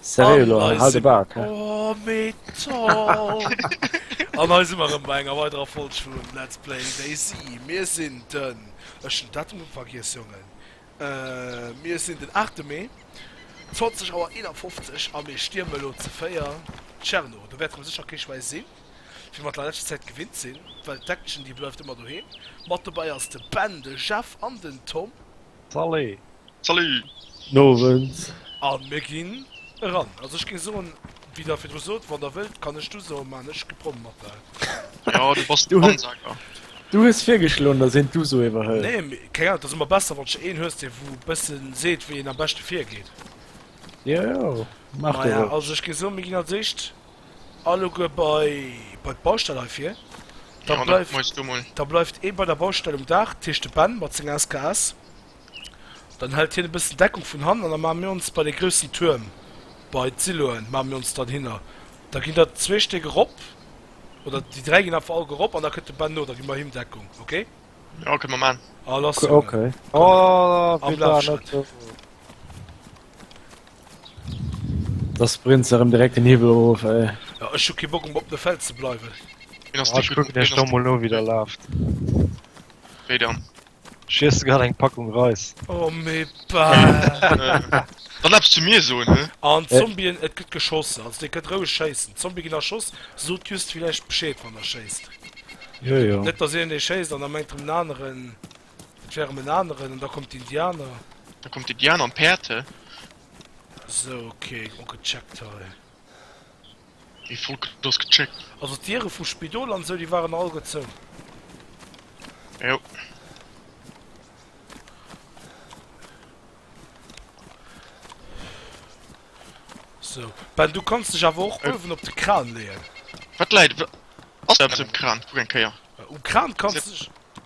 Seriö elo, hal de Bak he. Oh metal! An hei si mer rëm bei enger weiderer Folg vun Let's Play DayZ. Mir sinn den, ech hunn d'Datum vergiess Jongen, mir sinn den 8 Mee, 20 Auer 51 a mir stierme elo ze 4 Tscherno. Do wäerte mer sécher kee Schwäi sinn, wéi mer dat an der leschter Zäit gewinnt sinn, well d'Action déi bleift ëmmer doheem. Mat dobäi ass de Ben, de Jeff an den Tom. Salut! Salut! Guten Owend! A mir ginn eran. Also ech géing soen, wéi Der virdru sot, wann Der wëllt, kann ech d'Uso man. Ech gi prompt mat der. Jo, du bass den Ansager. Du hues virgeschloen, datt een d'Uso iwwerhëlt. Nee, mee keng Ahnung, et ass ëmmer besser, wann d'che een hues, dee wou e bëssen seet, wéi een am beschte virgeet. Jo, jo, maach dat och. Maja, also ech géing soen, mir ginn als éischt. Alleguer bei d'Baustell hei vir. Da bleift ee bei der Baustell um Daach, dat heescht de Ben mat senger SKS. Dann hält hien e bëssen Deckung vun hannen an da maache mir ons bei de groussen Tuerm, bei d'Siloen maache mir ons dann hinner. Da ginn der zwee Stéck erop, oder déi dräi ginn einfach alleguer erop an da kënnt de Ben no. Da gi mer him Deckung, ok? Jo, kënne mer maachen. A lass hien am Laf schreien. Da sprint se erëm direkt den Hiwwel erof, ey. Ja, ech hu kee Bock, um op de Fels ze bleiwen. Ween ass déi Kuck? Ech kucken elo, wéi der laaft. Wéi dann? Ech iesse grad eng Packung Reis. O mee bah! Dann eppes zu mir soen, hä? An d'Zombien, et gëtt geschoss. Also dir kënnt roueg schéissen. D'Zombie ginn erschoss. Sot just villäicht Bescheed, wann der schéisst. Jo, jo. Net, datt een ee schéisst an da mengt erëm en aneren. D'Jere men aneren, an da kommt d'Indianer. Da kommt d'Indianer an d'Päerd, he. Sou, ok, och gecheckt hei. Mee Volk, do ass gecheckt. Also d'Diere vum Spidol an esou, déi waren all gezou? Jo. Sou, Ben, du kanns dech awer och uewen op de Kran leeën. Wat läit, ass do eppes um Kran? Kuck eng Kéier. Um Kran kanns dech.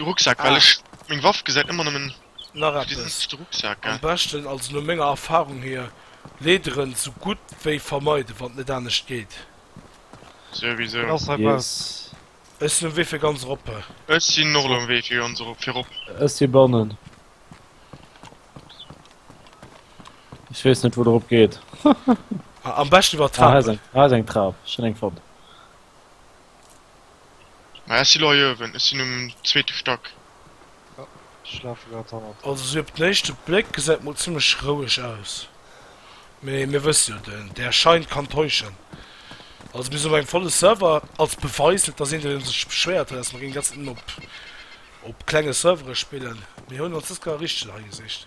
Rucksack well ech meng Waff gesäit ëmmer nëmmen op deen ënneschte Rucksack. Am beschten, also no menger Erfahrung hier, leederen sou gutt wéi vermeiden wann et net anescht geet. Souwisou. Ech sinn um Wee fir ganz eroppe. Ech sinn och elo um Wee fir ganz erop, fir erop. Ech si bannen. Ech weess net wou der erop geet. Am beschten iwwer d'Trapen. Ah hei ass eng Trap, ech hunn eng fonnt. Mä ech si lo hei uewen, ech sinn um zweete Stack. Jo, ech lafe grad hannert dir. Also sou op den éischte Bléck gesäit mol zimmlech roueg aus, mee mir wësse jo, den der Schein kann täuschen. Also mir sinn op engem volle Server, als Beweis, net dass een do sech beschwéiert huet, dass mer géingen ganz op klenge Servere spillen. Mir hunn ons dës Kéier richteg hei gesicht.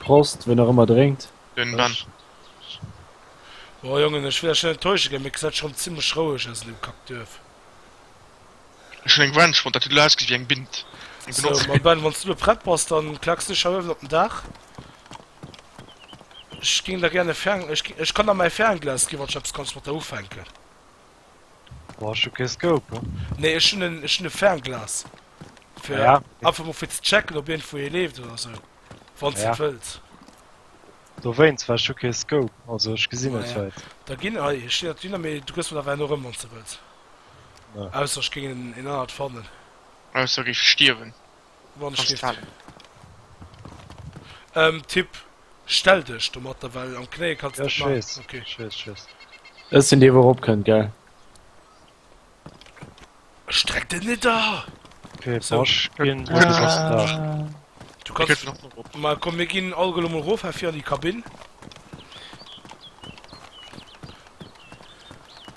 Prost, wien och ëmmer drénkt. Bon Jongen, ech wëll iech net enttäusche ginn, mee et gesäit schonn zimmlech roueg aus an deem Kackduerf. Sou, ma Ben, wann s du elo prett bass, da klacksen ech hei uewen op den Daach. Ech géing der gär e Fer. Ech kann der mäi Fernglas ginn, wann s du eppes kanns mat der ufänken. Bon, ech hu kee Scope. Nee, ech hunn en, ech hunn e Fernglas. Fir ja. einfach mol fir ze checken, ob iergendwou ee leeft oder sou. Wann ja. ze wëllt. Dowéinst, well ech hu kee Scope, also ech gesinn net ja. wäit. Da ginn ei, ech stinn dat Wiener, mee du gëss mer awer en erëm, wann ze wëlls. Ja. Ausser ech géing en, en anert fannen. Ausser géif stierwen. Wandschrift. Ähm Tipp, stell dech domatter well am Knéie kanns net man. Ech weess, ech weess. Ech sinn dee wou erop kënnt gell. Streck den net da! Okay Bosch ginn Du kanns nach mol rop. Ma komm mir ginn all gelo mol rof hei fir an déi Kabinn.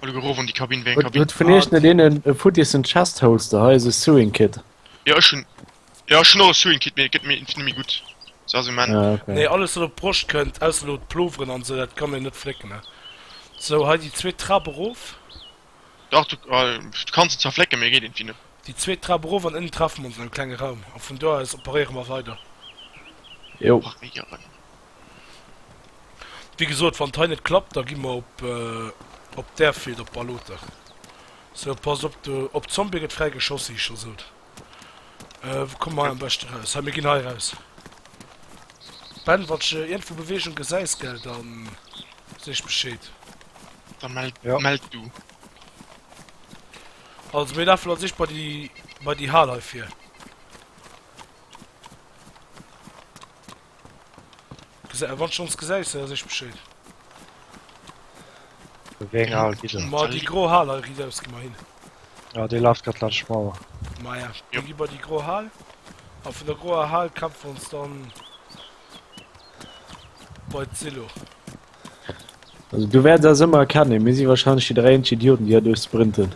Huet vun iech net een e futtissen Chestholster? Hei ass e Sewing Kit. Jo ech hun jo ech hun och e Sewing Kit mee gëtt mir inf nemmi gudd se ass um Enn. Ah ok. Nee alles wat op d'Broscht kënnt, ausser elo d'Ploveren an sou, dat kann een net flécken ne. Sou hei déi zweet Trap erof. Dach du du kanns se zwar flécken mee geet inf net. Déi zweet Trap erof an ënnen treffe mer ons an engem klenge Raum a vun do aus operéiere mer weider. Jo. Paréieren. Wéi gesot wann hei net klappt da gi mer op op d'Airfield op Balota. Sou pass op do op Zombie get fräi geschoss si ech scho sot. Euh wou kommen mer hei am beschten raus? Hei mir gin hei raus. Ben wanns de ierndwou Bewegung gesäis gell dann seech bescheed. Da meld Ja. meld du. Also mir lafen als erscht bei déi bei déi Hal hei vir. Gesä, wann schons gesäis se, ass ech bescheed. Wéi eng Hal gi se? Ma déi gro Hal hei ridaus gi mer hin. Ja, déi laft grad laanscht d'Mauer. Maja, da gi mer déi gro Hal, a vun der groer Hal kämpfe mer ons dann bei d'Silo. Also du wäerts eis ëmmer erkennen, mir si wahrscheinlech déi dräi eenzeg Idioten, déi hei duerch sprinten.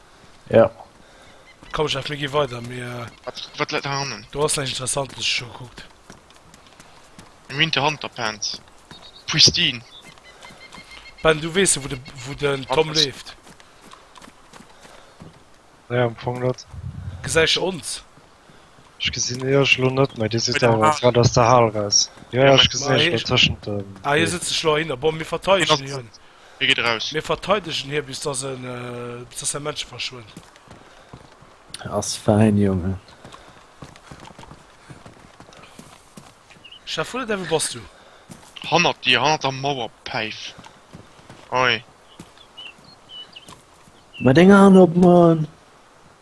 Ja. Komm Jeff, mir gi weider, mir. Wat, wat läit nach hannen? Do ass näischt Interessantes, ech hu scho gekuckt. Am Winter Hanterpants. Pristine. Ben, du weess jo, wou de, wou den Tom Anders. leeft. Ja, am Fong net. Gesäich ons? Ech gesinn iech elo net méi, dir sidd awer grad aus der Hal raus. Jo, jo, ech gesinn iech elo tëschent de Beem. Ah, hie sëtzt sech elo ahinner. Bon, mir verteidegen hien. Hie geet eraus. Mir verteidegen hie bis dass en, bis dass säi Männche verschwënnt. Ass fäin, Jonge. Chef Ulle, däi, wou bass du? Hannert dir, hannert der Mauer, Päif. Hei. Mat enger Hand op d'Man.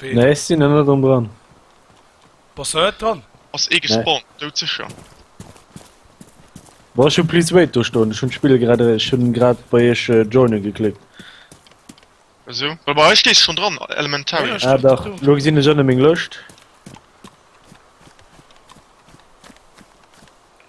Ween? Nee, ech sinn net rëm dran. Bass du net dran? Ass ee gespawnt, dout sécher. Bon, ech hu please wait do stoen, ech hunn d'Spill grad, ech hunn grad bei iech joinen geklickt. Esou? Well bei eis stees schonn dran, Elementary. Ah dach, elo gesinn ech ënne meng Lëscht.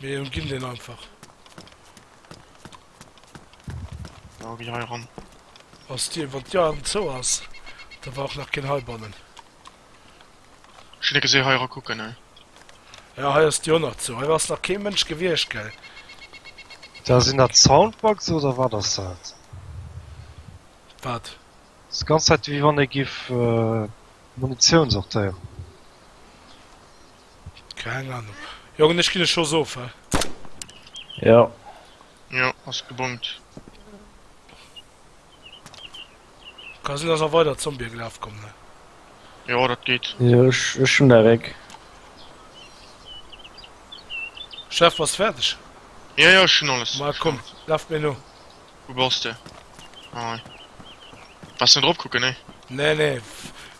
Mir umginn deen einfach. Ja, geh hei ran. Ass dir, wann d'Tür am zou ass, da war och nach keen heibannen. Ech hun e geseh hei era kucken, hei. Ja, hei ass d'Tür och nach zou. Hei ass nach kee Mënsch gewiescht, gell? Da sinn dat Soundbugs oder wat ass dat? Wat? Ass ganz Zäit ewéi wann ee giff Munitioun sortéieren. Keng Ahnung. Jongen ech gin e Schoss of he. Jo. Jo ass gebongt. Ka sin dass nach weider Zombie gelaf kommen he. Jo dat geet. Jo ech hun der Réck. Chef bass färdeg? Jo jo ech hun alles. Ma komm laf mir no. Wou bass de? Ah hei. Bass net erop kucken, nee. Nee, nee,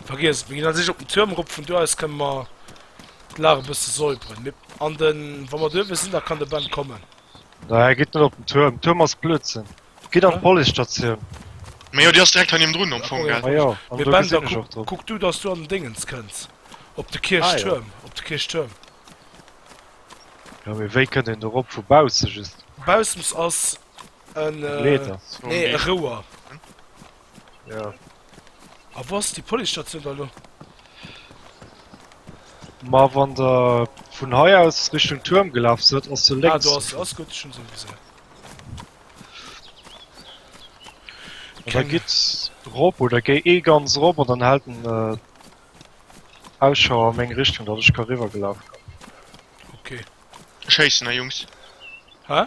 vergiess et. Mir ginn a sich op den Tuerm erop, vun do aus kënne mer d'Lag e bësse säuberen. Mir an de, wa mer duerwe sinn, da kann de Ben kommen. Nee, gitt net op den Tuerm. Tuerm ass Blödsinn. Gitt an d'Policestatioun. Mee jo, déi ass direkt heinim drun am Fong, gell? Ah jo, an do gesinn ech och drop. Kuck du, dass du an den Déngens kënns. Op de Kierchtuerm. Ah jo. Op de Kierchtuerm. Jo, mee wéi kënnt een do erop? Vu bausse just? Baussems ass En äh, Meter. nee, e Rouer. Ja. A wou ass déi Policestatioun da lo? Ma wann der vun hei aus Richtung Tuerm gelaf sidd, ass se Ah, lénks. do ass se, ass gutt, ech hunn se gesinn. Da Keng. gitt rop oder géi ee ganz rop an dann haalt den äh, Ausschau a meng Richtung, datt ech ka riwwergelaf kommen. Okay. Ech héissen, hei Jungs. Hä?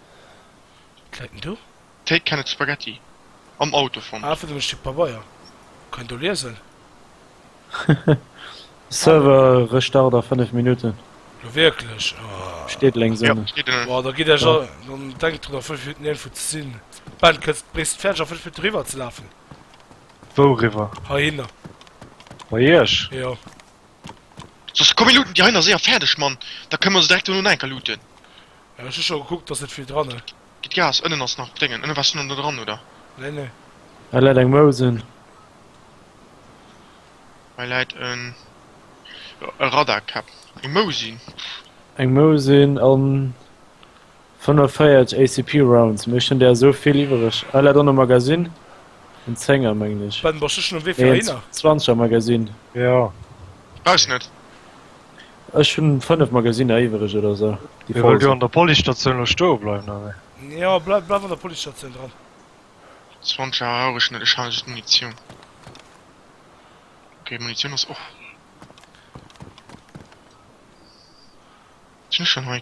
Klécken do. Take canned spaghetti am Auto fonnt. Ah, fir den Stick Pabeier. Kann een do liesen? Server Restart a 5 Minutten. Jo wierklech? Steet lenks ënnen. Steet ënnen. Boah, da gitt ech a. Dann denkt drun a 5 Minutten iergendwou ze sinn. Ben, kënns de bréisst fäerdeg a 5 Minutten eriwwer ze lafen? Wou eriwwer? Heihinner. Bei iech? Jo. Soss komm mir looten déi heihinner séier fäerdeg, Mann. Da kënne mer se direkt dono no enker looten. Ech hu scho gekuckt, ass net vill dranne. Gitt Gas, ënnen ass nach Déngen. Ënnen wars du nach net dran oder? Nee nee. Hei läit eng Mousen. Hei läit en e Radarkap. Eng Mousin. Eng Mousin an 45 ACP Rounds, mee ech hunn där esou vill iwwereg. Hei läit och en Magasin, en Zénger mengen ech. Ben, bass du schon um Wee fir heihinner? Nee, en Zwanzeger Magasin. Jo. Brauchs net. Ech hun 5 Magasinner iwwereg oder sou déi voll sin. Wëll du an der Policestatioun lo stoe bleiwen oder wéi? Jo, bleif bleif an der Policestatioun dran. 20 Auer rauch ech net, ech halen just Munitioun. Ok, Munitioun ass och. Sinn ech schonn hei?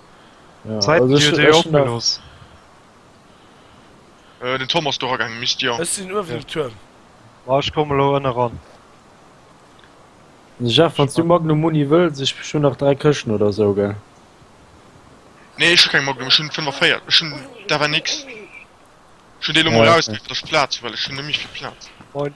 Zäiten huet ee opgelooss. Den Tom ass do eragaangen, Mist, jo. Ech sinn uewen um Tuerm. Bon, ech komme lo ënne ran. Jeff, wann s du Magnum-Muni wëlls, ech hunn nach dräi Këschten oder sou, gell? Nee, ech hu keng Magnum, ech hunn 45, ech hunn d'Awa Nix. Ech hunn déi lo mol erausginn, fir datt ech Plaz hu, well ech hunn net méi vill Plaz. Moin.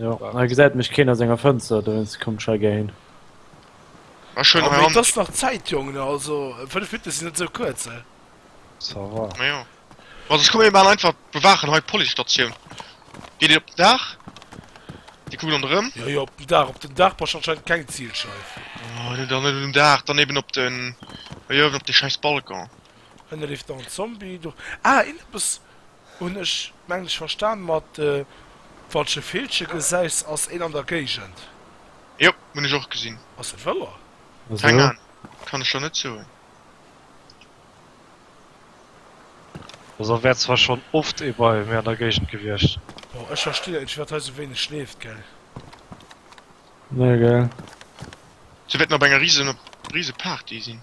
Jo, hei gesäit mech keen a senger Fënster, dowéinst komm ech hei gär hin. Ech hunn hei Hand. Et ass nach Zäit, Jongen, also 5 Minutte sinn net esou kuerz, hä? Ça va. Ma jo. Ma sech komm mir maachen einfach, bewaachen hei d'Policestatioun. Geet Dir op den Daach? Dir kuckt ronderëm? Jo, jo, op den Daach. Op den Daach brauch ech anscheinend keng Zilscheif. Oh, dann net op den Daach, dann eben op den. Jo, eben op de schäiss Balcon. Ënne leeft nach en Zombie. Do. Ah, een eppes. Hun ech mengen ech verstan mat de falsche Villchen gesais ass een an der Geigend. Jo hun ech och gesin. Ass e Wëller? Keng Ahnung, kann ech der net soen. Also wär zwar schon oft ee bei mir an der Geigend gewiecht. Boah ech verstinn dat net firwaat hei sou wéineg schleeft gell. Nee gell. Sou wäert mer op enger riesen Party sinn.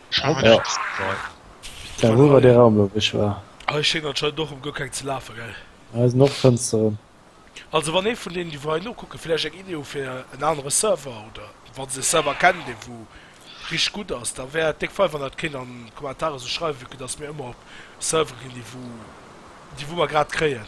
Da hu wer de Raum lo wéi ech war. Hei schéngt anscheinend och erëm guer keng ze lafen, gell? Hei sinn och Fënsteren. Also wann ee vun deenen déi wou hei nokucken vläicht eng Idee hu fir en anere Server oder wann se e Server kennen dee wou richteg gutt ass da wär et déck fein wann der et kéint an d'Kommentare sou schreiwen vu que dass mir ëmmer op Servere ginn déi wou déi wou mer grad kréien.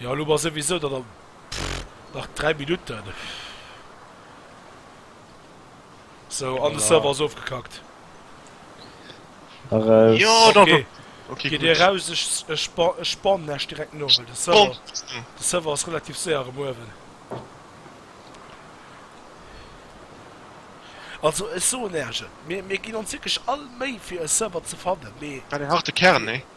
Jo elo war souwisou dann am pff nach 3 Minutten sou an de Server ass ofgekackt. Jo da ok okay geet eraus ech ech ech spawn lech direkt no well de Server de Server ass relativ séier erëm uewen. Also ech soen lech et mir mir ginn ons wierklech all Méi fir e Server ze fannen mee. War deen harte Kern nee?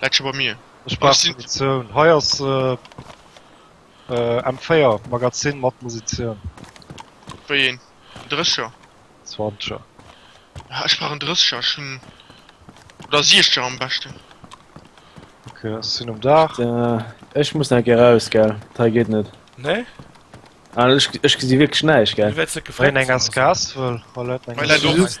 Läit scho bei mir. Ech brauch Munitioun. Hei ass äh, M4, Magazin mat Musitioun. Wéi een? En Drécher? Zwanzeger. Ja, ech brauch en Drécher. Ech hunn. Oder Siechzer am beschten. Okay, ech sinn um Daach. Äh, ech muss nach ge raus, gell. Dat hei geet net. Nee? Ah, ech, ech gesi wierklech näischt, gell. Du wäerts net gefrot. Wéi eng SKS wëll. Hei läit meng SKS.